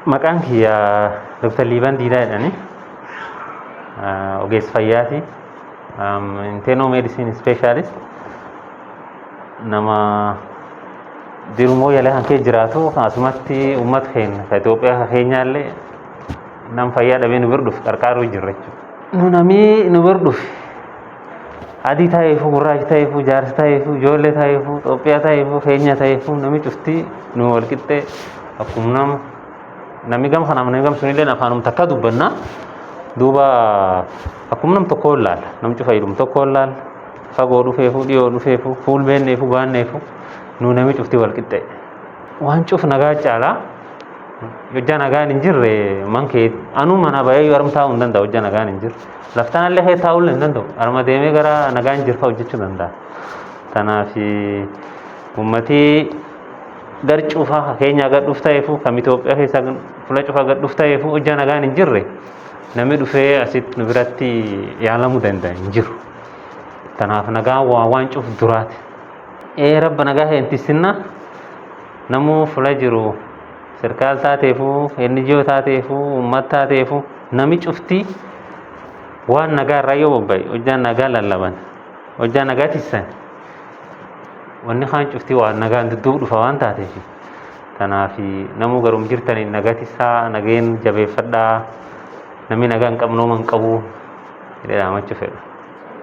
Maqaan kiyya Dr. Liiban Diidaa jedhani. Ogeessa fayyaati. Inteenoo meedisin ispeeshaalist nama jirumoo yaala kan kee jiraatu asumatti uummata keenya ka Itoophiyaa ka keenyaallee nam fayyaa dhabee nu bira dhufu qarqaaruu jirra jechuudha. Nu namii nu bira dhufe Adii ta'eefuu gurraachi ta'eefuu jaarsi ta'eefuu ijoollee ta'eefuu Itoophiyaa ta'eefuu keenya ta'eefuu namni cufti nu wal qixxee akkuma nama namni gama kanaaf namni gama sunillee afaanuma takka dubbanna duuba akkuma nam tokkoo laala nam cufa jedhum tokkoo laala fagoo dhufeefuu dhiyoo dhufeefuu fuul beenneefuu baanneefuu nu namni cufti wal qixxee waan cuf nagaa caalaa hojjaa nagaan hin jirre man kee anuu mana bahee yoo armtaa'uu hin danda'u hojjaa nagaan hin jirre. Laftanallee kee taa'uun hin danda'u. Arma deemee gara nagaan jirfa hojjechuu danda'a. Kanaaf uummatii gar cufaa ka Keenyaa gad dhuf ta'eefu kam Itoophiyaa keessaa fula cufaa gad dhuf ta'eefu hojjaa nagaan hin jirre namni dhufee asitti nu biratti yaalamuu danda'a hin jiru. Kanaaf nagaan waa waan cuf duraati. Ee rabba nagaa kee hin tissinnaa namuu fula jiru Sirkaal taateefuu, NGO taateefuu, uummat taateefuu nami cuftii waan nagaa irraa yoo bobba'e hojjaan nagaa lallaban hojjaa nagaa tissan wanni kaan cuftii waan nagaan dudduub dhufa waan taateef tanaaf namuu garum jirtaniin nagaa tissaa nageen jabeeffadhaa namni nagaa hin qabnooman qabu jedhee dhaamachuu fedha.